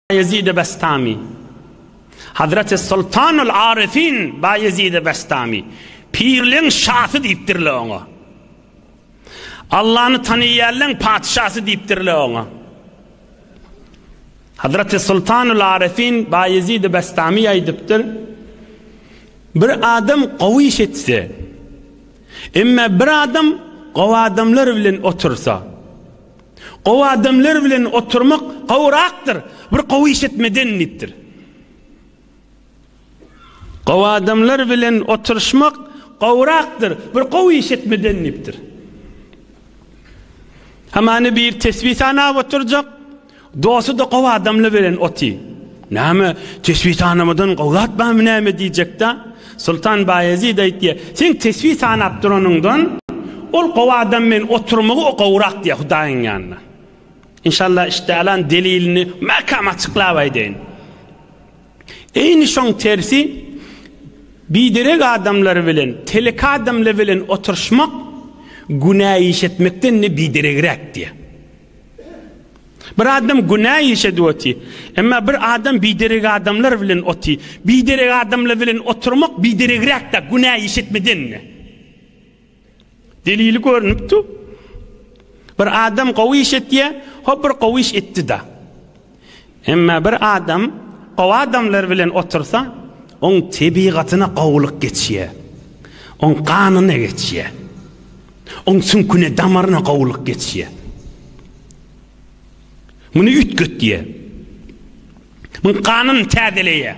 Baýezid-i Bestami Hazreti Sultanul Arifin Baýezid-i Bestami Pirleň şasy diýipdirle oňa. Allany tanaýanlaň patyşasy diýipdirle oňa. Hazreti Sultanul Arifin Baýezid-i Bestami aýdypdyr. Bir adam gowy iş etse, emma bir adam gowy adamlar bilen otursa, Gowy adamlar bilen oturmak gowyrakdyr, bir gowy iş etmeden diýipdir. Gowy adamlar bilen oturyşmak gowyrakdyr, bir gowy iş etmeden diýipdir. Hamany bir tesbih sanap oturjak, dosty da gowy adamlar bilen otyr. Näme, tesbih sanamadan gowy zat barmy näme diýjek-de? Soltan Baýezid aýtdy, Sen tesbi sanap duranyňdan, ol gowy adam bilen oturmagy gowrak diýýär Hudaýyň ýanynda. Enşalla işdäalan delilini mäkäm açyklap aýdaýyn. Eýni şoň tersi biderek adamlar bilen, telek adamlar bilen oturyşmak günä iş etmekden-de bideregräk diýýär. Bir adam günä işedi oty. Emma bir adam biderek adamlar bilen oty. Biderek adamlar bilen oturmak bideregräk-de günä işetmeden-de. Delili görnüpdi. Bir adam gowy iş etýär, hop bir gowy iş etdi-de. Emma bir adam gowy adamlar bilen otursa, oň tebigatyna gowulyk geçýär. Oň ganyna geçýär. Oň süňküne, damaryna gowulyk geçýär. Muny üýtgetýär. Muň ganyny täzeleýär.